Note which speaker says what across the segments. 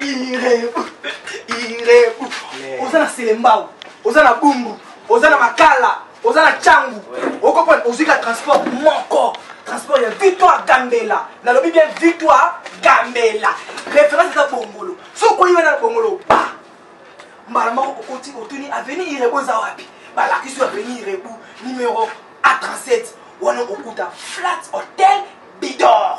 Speaker 1: irebu irebu oza na selembao oza na bumbu oza na makala oza na cangu okopona ozwi ka transport moko transport ya victoire gambela nalobi bien victoire gambela référence eza bongolo soki okoyi wana na bongolo ba mbala moko okoti otuni aveni irebu eza wapi balakisi yo aveni irebu numero a 37 wana okokuta flat hotel bidor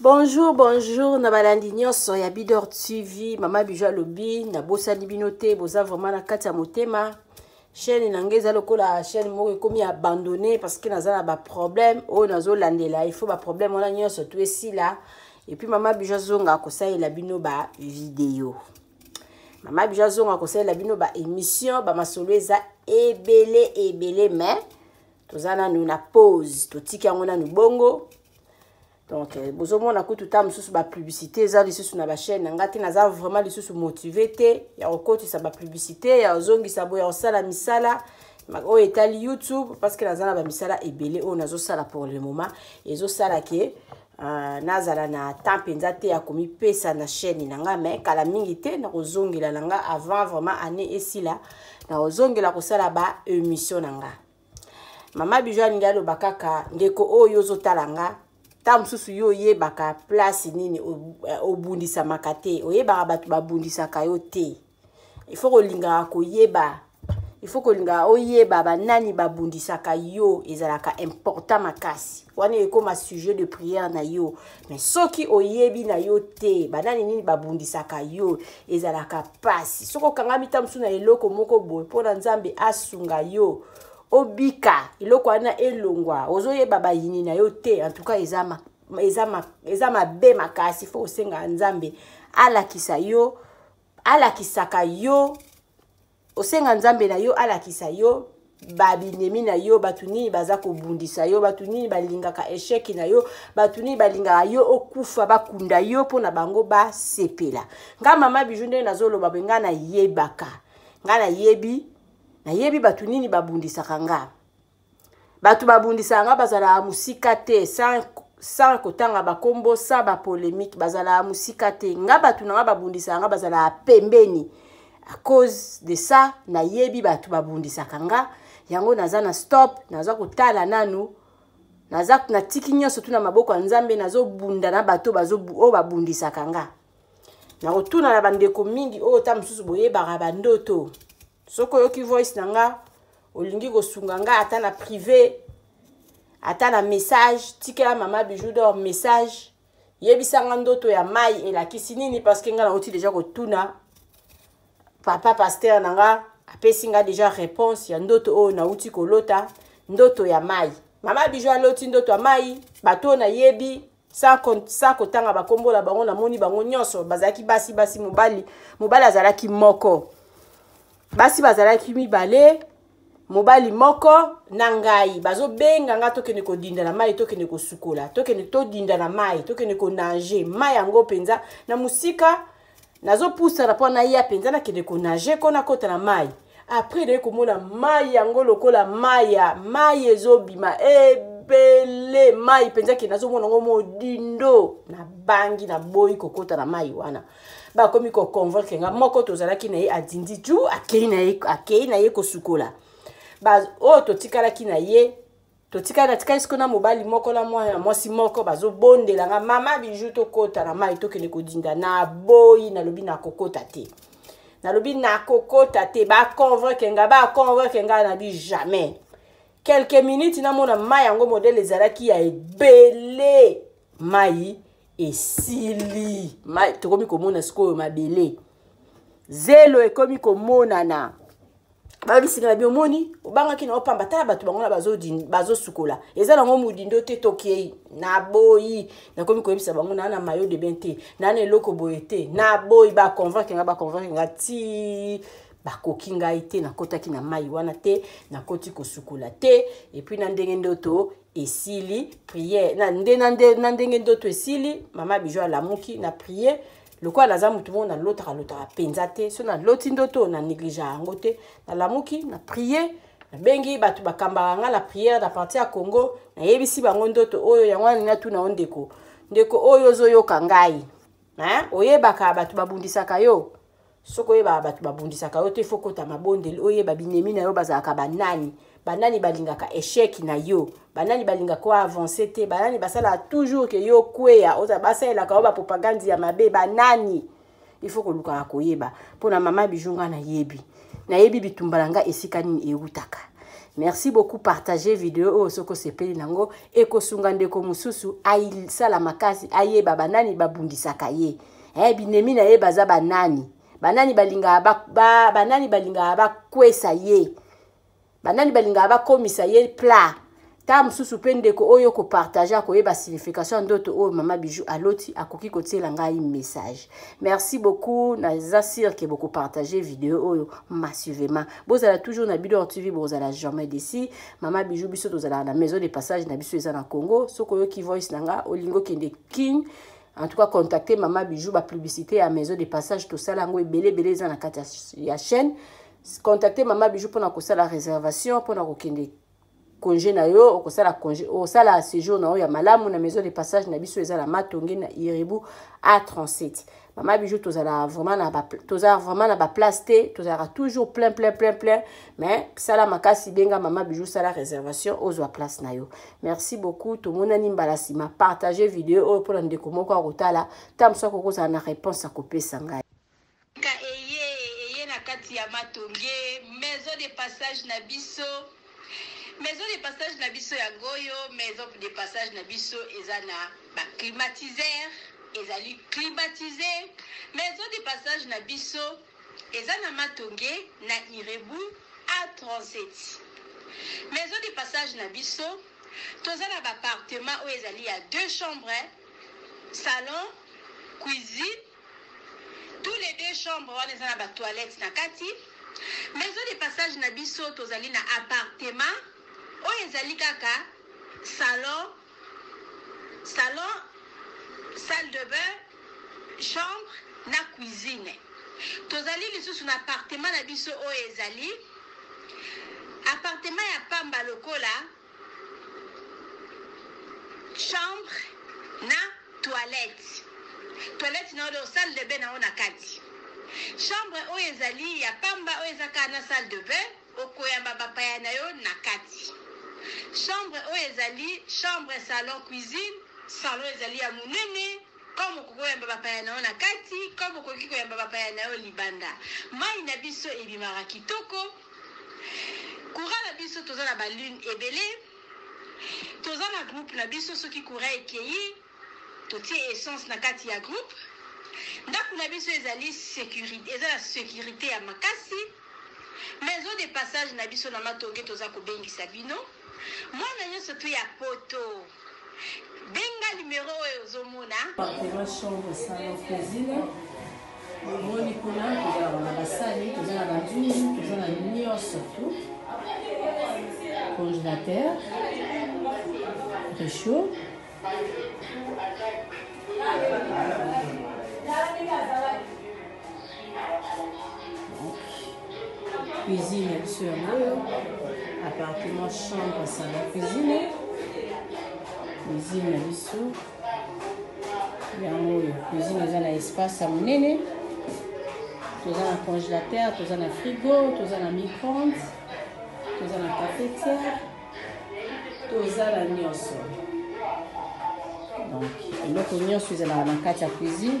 Speaker 2: bonjour bonjour na balandi nyonso ya bidor tv mama bijo alobi nabosani bino te boza vraiment na kati ya motema chaîne na ngai eza lokola chaîne moko ekomi abandonné parce que naza na baproblème oyo nazolandela il faut baproblème wana nyonso to esila epuis mama bijo azonga kosalela bino bavideo mama bijo azonga kosalela bino baémission bamasolo eza ebele ebele mais toza nanu na pause totiki yango nanu bongo donc euh, bozomona kutu ntango mosusu bapublicité eza lisusu na bachaîne na ngai te naza vraiment lisusu motive te ya kokotisa bapublicité ya kozongisa boye ya kosala misala oyo etali youtube parce que naza na bamisala ebele oyo nazosala pour le moment ezosala ke Uh, nazala na temps mpenza te ya komipesa na chaîne na ngai mai kala mingi te nakozongela na ngai avant vraiment année esila nakozongela kosala ba émission na ngai mama bijo alingi aloba kaka ndeko oyo ozotala nga ntango mosusu yo oyebaka place nini eh, obundisamaka te oyebaka bato babundisaka yo te ifo kolingaka koyeba ifo kolingaka oyeba banani babundisaka yo ezalaka important makasi wana ekoma sujet de prière na yo soki oyebi na yo te banani nini babundisaka yo ezalaka mpasi soki okangami ta mosusu na eloko moko boye mpo na nzambe asunga yo obika eloko wana elongwa ozoyeba bayini na yo te antuka eza, ma, eza, ma, eza mabe makasi fo osengaka nzambe alakisa yo alakisaka yo osenga nzambe na yo alakisa yo babinemi na yo bato nini baza kobundisa yo bato nini balingaka esheki na yo bato nini balingaka yo okufa bakunda yo mpo na bango basepela nga mama biju ndenge nazoloba boye nga nayebaka nga nayebi nayebi bato nini babundisaka nga bato babundisaka nga bazalaka mosika te sans kotanga bakombo sans bapolémique bazalaka mosika te nga bato na nga babundisaka nga bazalaka pembeni à cause de ça nayebi bato babundisaka nga yango naza na stop naza kotala nanu naza natiki nyonso tuna maboko ya nzambe nazobunda na bato oyo babundisaka nga nakotuna na bandeko mingi oyo ta mosusu boyebaka bandoto soki oyoki voice na nga olingi kosunga nga ata na privé ata na message tikela mama bijou dor message yebisa nga ndoto ya mai elakisi nini parceke nga nauti deja kotuna papa paster na nga apesi nga deja réponse ya ndoto oyo nauti kolota ndoto ya mai mama bijou aloti ndoto ya mai bato oyo nayebi sa kotanga bakombo na bango namoni bango nyonso bazalaki basi basi mobali mobali azalaki moko basi bazalaki mibale mobali moko na ngai bazobenga ngai tokende kodinda na mai tokende kosukola tokende todinda na mai tokende konange mai yango mpenza na mosika nazopusana mpo naya mpenza nakende konage mpo nakota na mai apres naye komona mai yango lokola mai ya mai ezobima ebele mai mpenza ke nazomona yango modindo nabangi naboyi kokota na mai wana bakomi koconvoke nga moko tozalaki na ye adindi ju akei na ye kosukola oyo totikalaki na ye totikali natikali sikoyo na mobali moko na mwana mwasi moko bazobondela nga mama biju tokota na mai tokende kodinda na boyi nalobi nakokota te nalobi nakokota te baconvoke nga baconvoke nga nabi jamais quelques minutes namona mai yango modele ezalaki ya ebele mai esili mai tokomi komona sikoyo mabele zelo ekomi komonana babisika na bi omoni obangaki na yo pamba tala bato bango na bazosukola eza nango modindo te tokei naboyi nakomi koyebisa bango naa na mayo de bien te naa na eloko boye te naboyi baconvaincre nga baconvaincre nga ti bakoki ngai te nakotaki na mai wana te nakoti kosukola te epuis na ndenge ndoto esili priere na, nde, na, nde, na ndenge ndoto esili mama bijo alamuki na priere lokola naza motu moko nalotaka lotaka mpenza te so naloti ndoto na negligea yango te nalamuki na prier nabengi bato bakambaka ngai na priere na parti ya congo nayebisi bango ndoto oyo yango wana natuna yo ndeko ndeko oyo ozoyoka ngai oyebaka bato babundisaka yo soki oyebaka bato babundisaka yo te fo kota mabondeli oyeba binemi na yo bazalaka banani banani balingaka echec na yo banani balingaka ko avance te banani basalaka toujours ke yo okweya oza basalelaka yo bapropagande ya mabe banani il faut kolukaka koyeba mpo na mama biju ngai nayebi nayebi bitumba na ngai esika nini ewutaka merci beaucoup partage video oyo soki osepeli nango ekosunga ndeko mosusu asala makasi ayeba banani babundisaka ye eh, binemi na ye baza banani banani balingaka ba, ba, banani balingaka bakwesa ye banani balingaka bakomisa ye plat ta mosusu mpe ndeko oyo kopartage akoyeba signification ya ndoto oyo mama bijou aloti akoki kotiela ngai message merci beaucoup naza sire ke bokopartage video oyo massivement bozala toujours na bidor tv bozala jamais desi mama bijou biso tozalaka na maison de passage na biso eza na congo soki oyoki voice na nga olingi okende king en tout cas contacte mama bijou bapublicité ya maison de passage tosala yango ebele ebele eza na kati ya chaîne contacte mama bijou mpona kosala réservation mpona kokende congé na yo okosala congé osala séjour na yo ya malamu na maison de passage na biso eza na matonge na iribu a 37 mama bijou tozala vraiment na toza vraiment na baplace te tozalaka toujours plein plein plein plein mais sala makasi benga mama bijou sala réservation ozwa place na yo merci beaucoup tomonani mbala nsima partage video oyo mpona ndeko moko akotala ntango mosusu akokozala na réponse akopesa ngai Ka
Speaker 3: eye eye na kati ya matonge maison de passage na biso maison de passage na biso yango oyo maison de passage na biso eza na ba climatiseur ezali climatise maison de passage na biso eza na matonge na irebu a 37 maison de passage na biso toza na bapartement oyo ezali ya deux chambres salon cuisine Tout les deux chambre wana eza na ba toilettes na kati. Maison de passage na biso tozali na appartement oyo ezali kaka salon, salon, salle de bain, chambre na cuisine. Tozali lisusu na appartement na biso oyo ezali appartement ya pamba lokola chambre na toilette toilette na yo donc salle de bain na yo na kati chambre oyo ezali ya pamba oyo eza kaka na salle de bain okoyamba bapaya na yo na kati chambre oyo ezali chambre salon cuisine salon ezali ya monene comme okoki koyamba bapaya na yo na kati comme okoki koyamba bapaya na yo libanda mai na biso ebimaka kitoko Courant na biso toza na ba lune ebele toza na groupe na biso soki courant ekeyi totie essence na kati ya groupe ndako na biso ezali securite eza na securite ya makasi maison de passage na biso na matonge toza kobengisa bino mwana nyonso tu ya poto Benga numero oyo ozo mona. Bakoma chambre
Speaker 2: salon cuisine. Omoni kuna tozalaka na basani, toza na banzungu, toza na nyonso tu. Congélateur, réchaud. cuisine ya biso yango oyo appartement chambre sala cuisine cuisine na biso yango oyo cuisine eza na espace ya monene toza na congélateur toza na frigo toza na micronde toza na cafetière toza na nyonso donc eloko nyonso ezalaka na kati ya cuisine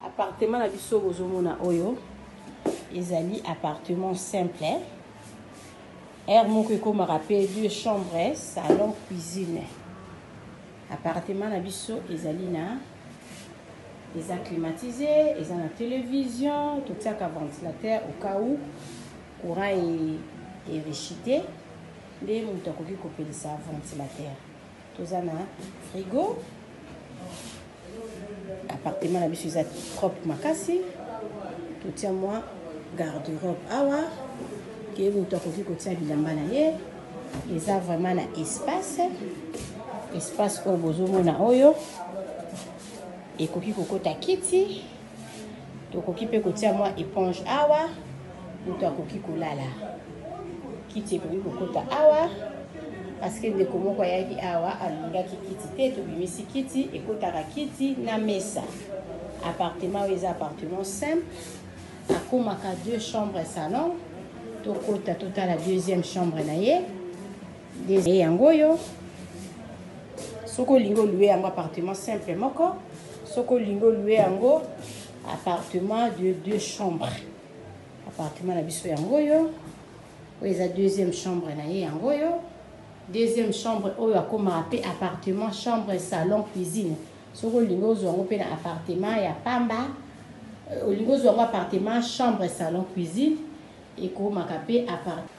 Speaker 2: Appartement na biso bozomona oyo ezali appartement simple aire moko ekomaka mpe deux chambres salon cuisine appartement na biso ezali na eza climatisé eza na télévision totiaka ventilateur au cas où courant erechite nde moto akoki kopelisa ventilateur toza na frigo appartement na biso eza propre makasi totia mwa garde robe awa ke moto akoki kotia bilamba na ye eza vraiment na espace espace oyo bozomona oyo ekoki kokota kiti Tokoki mpe kotia mwa eponge awa, moto akoki kolala. Kiti ekoki kokota awa, paske ndeko moko ayaki awa alingaki kiti te, tobimisi kiti, ekotaka kiti na mesa. Appartement oyo eza appartement simple, akomaka deux chambres salon, tokota totala deuxième chambre na ye. Nde yango oyo soki olingi olue yango appartement simple moko soki olingi olue yango appartement de deux chambres appartement na biso yango oyo oyo eza deuxième chambre na ye yango oyo deuxième chambre oyo akomaka mpe appartement chambre salon cuisine soki olingi ozwa yango mpe na appartement ya pamba euh, olingi ozwa yango appartement chambre salon cuisine ekomaka mpe appartement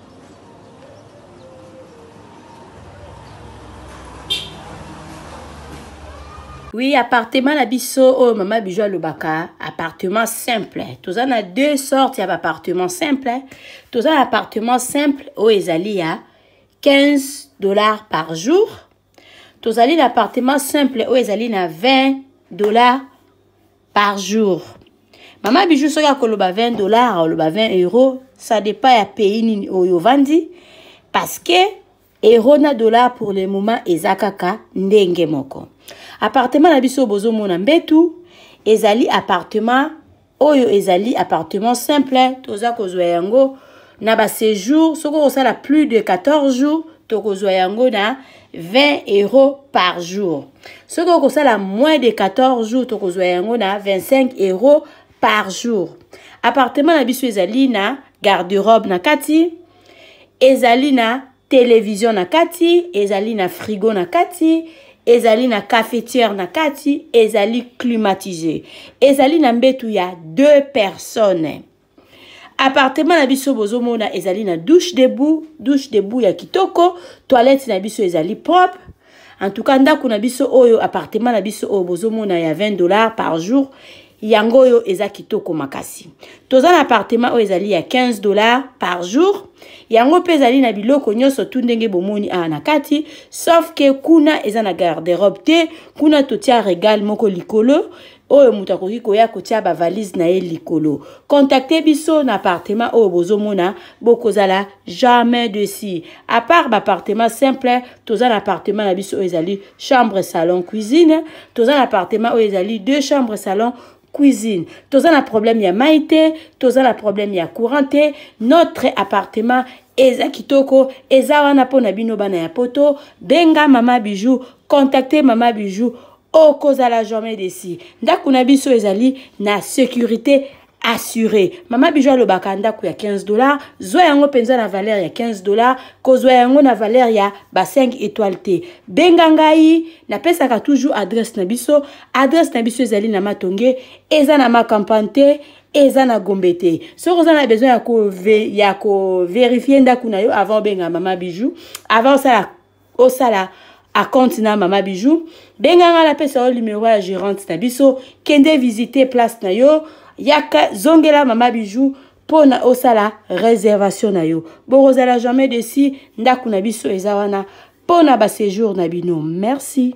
Speaker 2: oui appartement na biso oyo mama bijo alobaka appartement simple toza na deux sortes ya baappartement simple toza na appartement simple oyo ezali ya 15 dollars par jour tozali na appartement simple oyo ezali na 20 dollars par jour mama bijou soki akoloba 20 dollars oloba 20 euro ça dépend ya pays nini oyo ovandi parce que euro na dollar pour le moment eza kaka ndenge moko appartement na biso bozomona mbetu ezali appartement oyo ezali appartement simple toza kozwa yango na ba séjour soki okosala plus de 14 jours tokozwa yango na 20 euros par jour soki okosala moins de 14 jours tokozwa yango na 25 euros par jour appartement na biso ezali na garde-robe na kati ezali na televizio na kati ezali na frigo na kati ezali na cafetiere na kati ezali climatise ezali na mbetu ya deux personnes appartement na biso bozomona ezali na douche debout douche debout ya kitoko toilette na biso ezali propre en tout cas ndako na biso oyo appartement na biso oyo bozomona ya 20 dollars par jour yango oyo eza kitoko makasi toza na appartement oyo ezali ya 15 dollars par jour yango mpe ezali na biloko nyonso tu ndenge bomoni awa na kati sauf ke kuna eza na garderobe te kuna totia regal moko likolo oyo moto akoki koya kotia bavalise na ye likolo contacte biso na appartement oyo bozomona bokozala jamais desi apart baappartement simple toza na appartement na biso oyo ezali chambre salon cuisine toza na appartement oyo ezali deux chambre salon cuisine toza na problème ya mai te toza na problème ya courant te notre appartement eza kitoko eza wana mpo na bino bana ya poto benga mama bijou contacte mama bijou okozala jamais desi ndako na biso ezali na sécurité assuré mama bijo alobaka ndako ya 15 dollar zwa yango mpenza na valeur ya 15 dollar kozwa yango na valeur ya ba 5 étoile te benga ngai napesaka toujours adresse na biso adresse na biso ezali na matonge eza na makampane te eza na gombe te soki oza na besoin ya koverifie ndako na yo avant obenga mama bijou avant osala osala acompte na mama bijou benga ngai napesa yo numero ya gérante na biso kende visite place na yo yaka zongela mama bijou mpo na osala réservation na yo bokozala jamais desi ndako na biso eza wana mpo na baséjour na bino merci